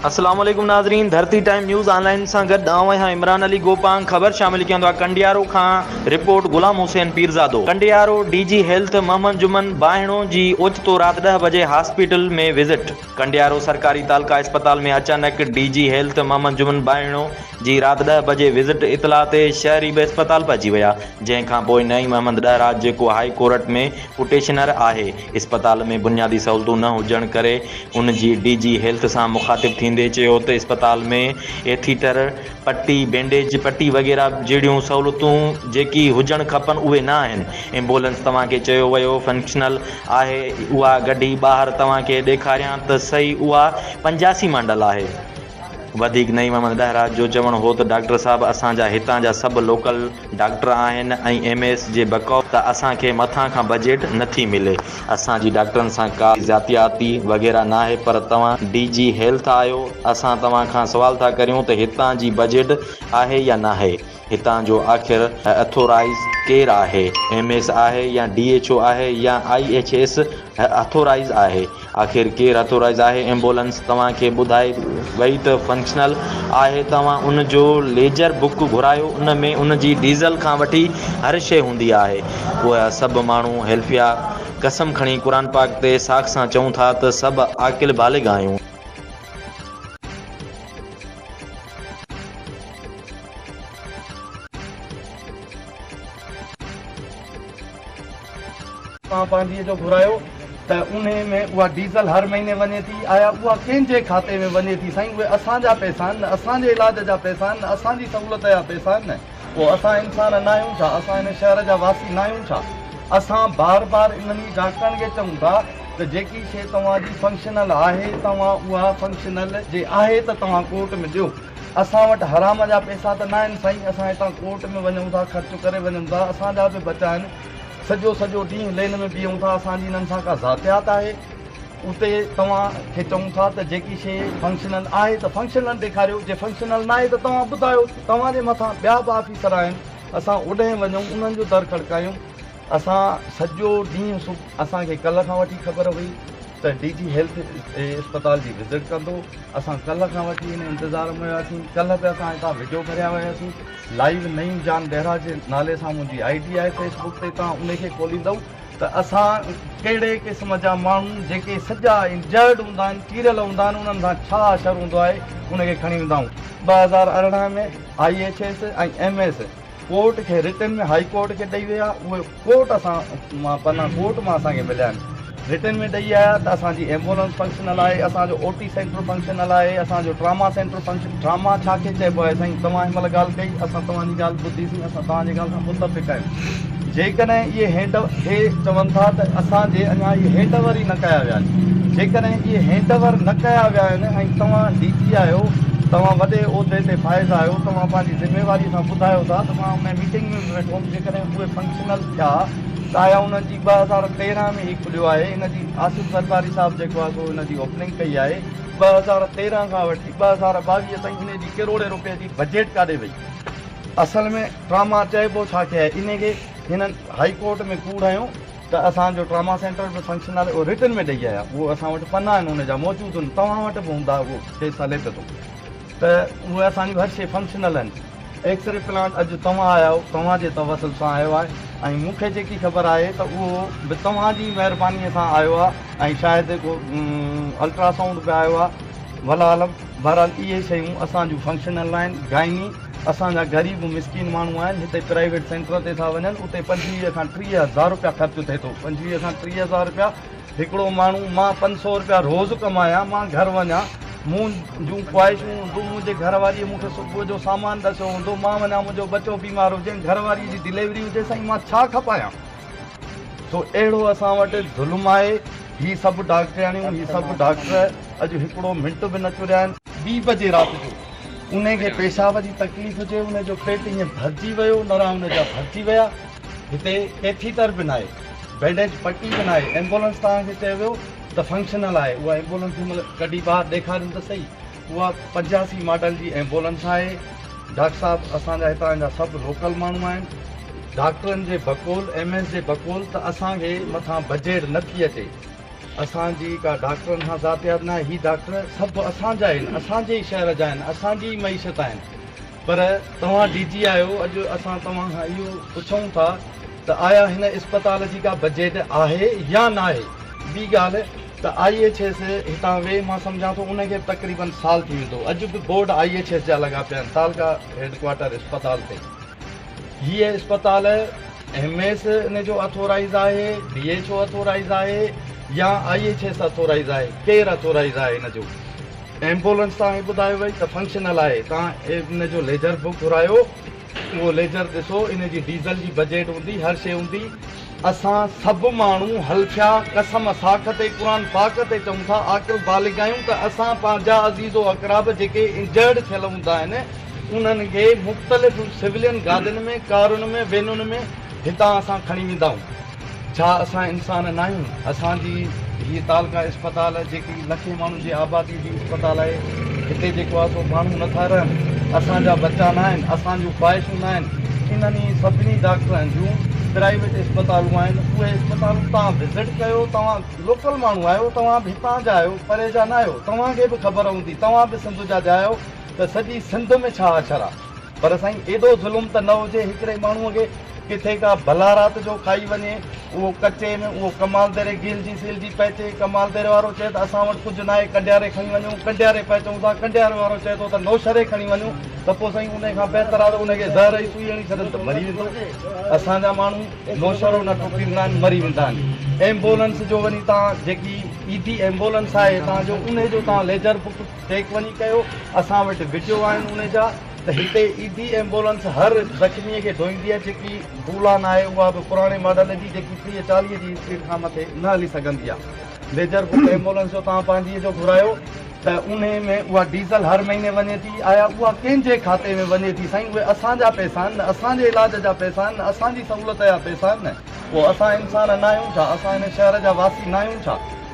السلام عليڪم ناظرين Dharti time news online سان گڏ آئون آهيان عمران علي گوپانگ خبر شامل ڪيون ٿا ڪنڊيارو کان report Ghulam Hussain Pirzado Kandiaro D G health Muhammad Juman Bahno جي اوچتو رات ڏهه بجي هاسپيٽل ۾ وزٽ ڪنڊيارو سرڪاري تعلقه اسپتال ۾ اچانڪ D G health Muhammad Juman Bahno جي رات ڏهه بجي وزٽ اطلاع تي شهري به اسپتال پهچي ويا جنهن کانپوء نعيم احمد ڏهراج جيڪو هائي ڪورٽ ۾ پٽيشنر آهي اسپتال ۾ بنيادي سهولتون نه هجڻ ڪري ان جي ڊي جي هيلٿ سان مخاطب ٿيندي چيو ته اسپتال ۾ ايٿيٽر پٽي، بينڊيج، پٽي وغيره جهڙيون سهولتون جيڪي هجڻ کپن اهي نه آهن، ايمبولنس توهان کي چيو ويو فنڪشنل آهي اها گڏي ٻاهر توهان کي ڏيکاريان ته سهي اها پنجاسي مانڊل آهي. وڌيڪ نعيم احمد ڏهراج جو چوڻ هو ته ڊاڪٽر صاحب اسان جا هتان جا سڀ لوڪل ڊاڪٽر آهن ۽ ايم ايس جي بقوف ته اسان کي مٿان کان بجيٽ نٿي ملي اسان جي ڊاڪٽرن سان ڪا زياتياتي وغيره ناهي پر توهان ڊي جي هيلٿ آهيو اسان توهان کان سوال ٿا ڪريون ته هتان جي بجيٽ آهي يا ناهي هتان جو آخر اٿورائيز ڪير آهي ايم ايس آهي يا ڊي ايڇ او آهي يا آئي ايڇ ايس اٿورائيز آهي آخر ڪير اٿورائيز آهي ايمبولنس توهان کي ٻڌائي وئي ته فنڪشنل آهي توهان ان جو ليجر بڪ گهرايو ان ۾ ان جي ڊيزل کان وٺي هر شئي هوندي آهي اها سڀ ماڻهو هيلفيا قسم کڻي قرآن پاڪ تي ساک سان چئون ٿا ته سڀ عاقل بالغ آهيون. مان پانڌيء جو گهرايو ته انهي ۾ اها ڊيزل هر مهيني وڃي ٿي، آيا اها ڪنهن جي کاتي ۾ وڃي ٿي؟ سائين اهي اسان جا پئسا آهن نه، اسان جي علاج جا پئسا آهن نه، اسان جي سهولت جا پئسا آهن نه، پوء اسان انسان ناهيون ڇا؟ اسان هن شهر جا واسي ناهيون ڇا؟ اسان بار بار انهن ئي ڊاڪٽرن کي چئون ٿا ته جيڪي شيء توهان جي فنڪشنل آهي توهان اها فنڪشنل جي آهي ته توهان ڪورٽ ۾ ڏيو. اسان وٽ حرام جا پيسا ته ناهن سائين، اسان هتان ڪورٽ ۾ وڃون ٿا، خرچ ڪري وڃون ٿا، اسان جا به بچا آهن، سڄو سڄو ڏينهن لين ۾ بيهون ٿا، اسان جي انهن سان ڪا ذاتيات آهي؟ اتي توهان کي چئون ٿا ته جيڪي شيء فنڪشنل آهي ته فنڪشنل ڏيکاريو، جي فنڪشنل ناهي ته توهان ٻڌايو، توهان جي مٿان ٻيا به آفيسر آهن، اسان اوڏهين وڃون انهن جو در کڙڪايون، اسان سڄو ڏينهن اسان کي ڪلهه کان وٺي خبر هئي. ته ڊي جي هيلٿ اهي اسپتال جي وزٽ ڪندو اسان ڪلهه کان وٺي ان انتظار ۾ هياسين ڪلهه به اسان هتان وڊيو ڀريا وياسين لائيو نعيم جان بهرا جي نالي سان منهنجي آئي ڊي آهي فيس بڪ تي تان ان کي کوليندو ته اسان ڪهڙي قسم جا ماڻهو جيڪي سڄا انجرڊ هوندا آهن چيريل هوندا آهن انهن سان ڇا حشر هوندو آهي ان کي کڻي ويندا آهيون ٻه هزار ارڙهن ۾ I H S ۽ M S court کي رٽن ۾ هائي ڪورٽ کي ڏئي ويا اهي ڪورٽ اسان مان پنا ڪورٽ مان اسان کي مليا آهن. رٽن ۾ ڏئي آيا ته اسان جي ايمبولنس فنڪشنل آهي، اسان جو او ٽي سينٽر فنڪشنل آهي، اسان جو ٽراما سينٽر فنڪشن ٽراما ڇا کي چئبو آهي سائين توهان هن مهل ڳالهه ڪئي اسان توهان جي ڳالهه ٻڌي سين اسان توهان جي ڳالهه سان متفق آهيون جيڪڏهن اهي هينڊ اهي چون ٿا ته اسان جي اڃا اهي هينڊ اوور ئي نه ڪيا ويا آهن جيڪڏهن اهي هينڊ اوور نه ڪيا ويا آهن ۽ توهان ڊي جي آهيو توهان وڏي عهدي تي فائز آهيو توهان پنهنجي ذميواري سان ٻڌايو ٿا ته مان ان ميٽنگ ۾ به ويٺو هوم جيڪڏهن اهي فنڪشنل ٿيا ته آيا انهن جي ٻه هزار تيرنهن ۾ هي کليو آهي ان جي آصف زرداري صاحب جيڪو آهي سو ان جي اوپننگ ڪئي آهي ٻه هزار تيرنهن کان وٺي ٻه هزار ٻاويهه تائين انهي جي ڪروڙين روپين جي بجيٽ ڪاڏي وئي اصل ۾ ٽراما چئبو ڇا کي آهي انهي کي هنن هائي ڪورٽ ۾ ڪوڙ هنيو ته اسان جو ٽراما سينٽر به فنڪشنل اهو رٽن ۾ ڏئي آيا اهو اسان وٽ پنا آهن ان جا موجود آهن توهان وٽ به هوندا اهو ڪيس هلي پيو ٿو ته اهي اسان جون هر شيء فنڪشنل آهن. ايڪس ري پلانٽ اڄ توهان آيا آهو، توهان جي توسل سان آيو آهي ۽ مون کي جيڪي خبر آهي ته اهو به توهان جي مهربانيء سان آيو آهي ۽ شايد ڪو الٽرا سائونڊ به آيو آهي. والله عالم، بهرحال اهي شيون اسان جون فنڪشنل ناهن. گائني، اسان جا غريب مسڪين ماڻهو آهن، هتي پرائيويٽ سينٽر تي ٿا وڃن، اتي پنجويهه کان ٽيهه هزار رپيا خرچ ٿئي ٿو. پنجويهه کان ٽيهه هزار رپيا هڪڙو ماڻهو، مان پنج سؤ رپيا روز ڪمايان، مان گهر وڃان، مون جون خواهشون هونديون، منهنجي گهر واريء مون کي صبح جو سامان ڏسيو هوندو، مان وڃان منهنجو ٻچو بيمار هجي، گهر واريء جي ڊليوري هجي، سائين مان ڇا کپايان؟ سو اهڙو اسان وٽ ظلم آهي، هي سڀ ڊاڪٽرياڻيون، هي سڀ ڊاڪٽر اڄ هڪڙو منٽ به نه چريا آهن. ٻي بجي رات جو انهيء کي پيشاب جي تڪليف هجي، انهيء جو پيٽ ائين ڀرجي ويو، نرا انهيء جا ڀرجي ويا. هتي ڪيٿيٽر به ناهي، بينڊيج پٽي به ناهي، ايمبولنس توهان کي چيو ويو ته فنڪشنل آهي، اها ايمبولنس هن مهل ڪڍي ٻاهر ڏيکارين ته سهي، اها پنجاسي ماڊل جي ايمبولنس آهي، ڊاڪٽر صاحب اسان جا هتان جا سڀ لوڪل ماڻهو آهن، ڊاڪٽرن جي بقول ايم ايس جي بقول ته اسان کي مٿان بجيٽ نه ٿي اچي، اسان جي ڪا ڊاڪٽرن سان ذاتيات ناهي، هي ڊاڪٽر سڀ اسان جا آهن، اسان جي ئي شهر جا آهن، اسان جي ئي معيشت آهن، پر توهان ڊي جي آهيو اڄ اسان توهان کان اهو پڇون ٿا ته آيا هن اسپتال جي ڪا بجيٽ آهي يا ناهي؟ ٻي ڳالهه ته آئي ايڇ ايس هتان وي مان سمجهان ٿو ان کي تقريباً سال ٿي ويندو اڄ به بورڊ آئي ايڇ ايس جا لڳا پيا آهن تعلقه هيڊڪوارٽر اسپتال تي هيء اسپتال ايم ايس ان جو اٿورائيز آهي ڊي ايڇ او اٿورائيز آهي يا آئي ايڇ ايس اٿورائيز آهي ڪير اٿورائيز آهي ان جو؟ ايمبولنس تان هي ٻڌايو وئي ته فنڪشنل آهي تان ان جو ليجر به گهرايو اهو ليجر ڏسو ان جي ڊيزل جي بجيٽ هوندي هر شي هوندي اسان سڀ ماڻهو هلفيا قسم ساک تي قرآن پاڪ تي چئون ٿا عاقل بالغ آهيون ته اسان پنهنجا عزيز و اقراب جيڪي انجرڊ ٿيل هوندا آهن انهن کي مختلف سولين گاڏين ۾ ڪارن ۾ وينن ۾ هتان اسان کڻي ويندائون ڇا اسان انسان ناهيون؟ اسان جي هيء تعلقه اسپتال جيڪي لکين ماڻهن جي آباديء جي اسپتال آهي، هتي جيڪو آهي سو ماڻهو نٿا رهن، اسان جا ٻچا ناهن، اسان جون خواهشون ناهن، انهن ئي سڀني ڊاڪٽرن جون پرائيويٽ اسپتالون آهن، اهي اسپتالون توهان وزٽ ڪيو، توهان لوڪل ماڻهو آهيو، توهان به هتان جا آهيو، پري جا ناهيو، توهان کي به خبر هوندي، توهان به سنڌ جا جا آهيو ته سڄي سنڌ ۾ ڇا اڇر آهي. پر سائين ايڏو ظلم ته نه هجي هڪڙي ماڻهوء کي ڪٿي ڪا بلا رات جو کائي وڃي اهو ڪچي ۾ اهو ڪمال ديري گيلجي سيلجي پئچي ڪمال ديري وارو چئي ته اسان وٽ ڪجهه ناهي ڪنڊياري کڻي وڃون ڪنڊياري پئچون ٿا ڪنڊياري وارو چئي ٿو ته نوشهري کڻي وڃون ته پوء سائين انهي کان بهتر آهي ته انهي کي زهر جي سوئي هڻي ڇڏن ته مري ويندو اسان جا ماڻهو نوشهرو نه ٽوڪيندا آهن مري ويندا آهن ايمبولنس جو وڃي توهان جيڪي ايڌي ايمبولنس آهي توهان جو انهي جو توهان ليجر بڪ چيڪ وڃي ڪيو اسان وٽ وڊيو آهن ان جا ته هتي ايڌي ايمبولنس هر زخمي کي ڍوئيندي آهي جيڪي بولان آهي اها به پراڻي ماڊل جي جيڪي ٽيهه چاليهه جي اسپيڊ کان مٿي نه هلي سگهندي آهي ميجر بڪ ايمبولنس جو توهان پنهنجي جو گهرايو ته انهي ۾ اها ڊيزل هر مهيني وڃي ٿي آيا اها ڪنهن جي کاتي ۾ وڃي ٿي سائين اهي اسان جا پئسا آهن نه اسان جي علاج جا پئسا آهن نه اسان جي سهولت جا پئسا آهن نه پوء اسان انسان ناهيون ڇا اسان هن شهر جا واسي ناهيون ڇا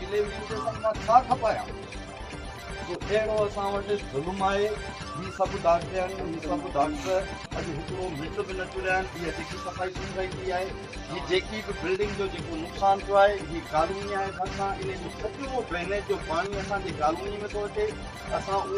ڊليوري اسٽيشن مان ڇا کپايان؟ جو اهڙو اسان وٽ ظلم آهي. هي سڀ ڊاڪٽرياڻيون، هي سڀ ڊاڪٽر اڄ هڪڙو منٽ به نه ٽريا آهن. اها جيڪي صفائي ٿي رهي پئي آهي، هي جيڪي به بلڊنگ جو جيڪو نقصان ٿيو آهي، هي ڪالوني آهي ڀرسان، ان جو سڄو ڊرينيج جو پاڻي اسان جي ڪالوني ۾ ٿو اچي. اسان اهو.